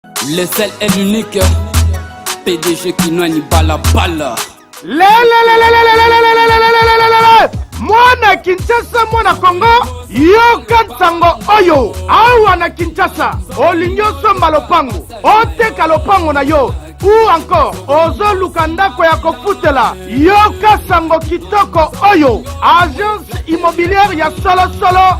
Le seul et l'unique PDG Kinwani Balabala. mwana kinshasa mwana kongo yoka nsango oyo awa na kinshasa olingi osomba lopango oteka lopango na yo ou encore ozoluka ndako ya kofutela yoka sango kitoko oyo agence immobilière ya solosolo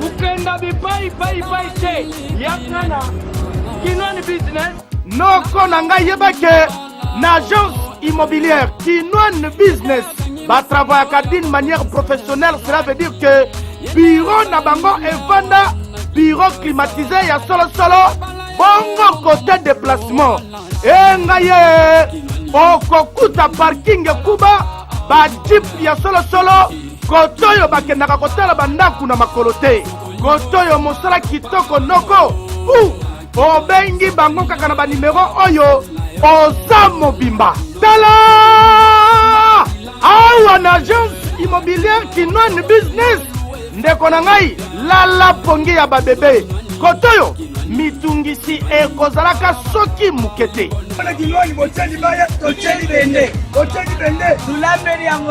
kokenda bipai pai pai te yaka na kinwani business noko na ngai yeba ke na agence immobilière kinwani business batravayaka d'une manière professionnelle cela veut dire que biro na bango efanda biro climatisé ya solosolo bongo kote déplacement engai ye okokuta parking ekuba bajip ya solosolo koto oyo bakendaka kotala bandako na makolo te koto oyo mosala kitoko noko u obengi bango kaka na banimero oyo oza mobimba tala awa na agence immobilière kinoine business ndeko na ngai lala pongi ya babebe koto oyo mitungisi ekozalaka soki moke te mpona kinwani botyeli baya totyeli bende botyeli bende tulambeli yango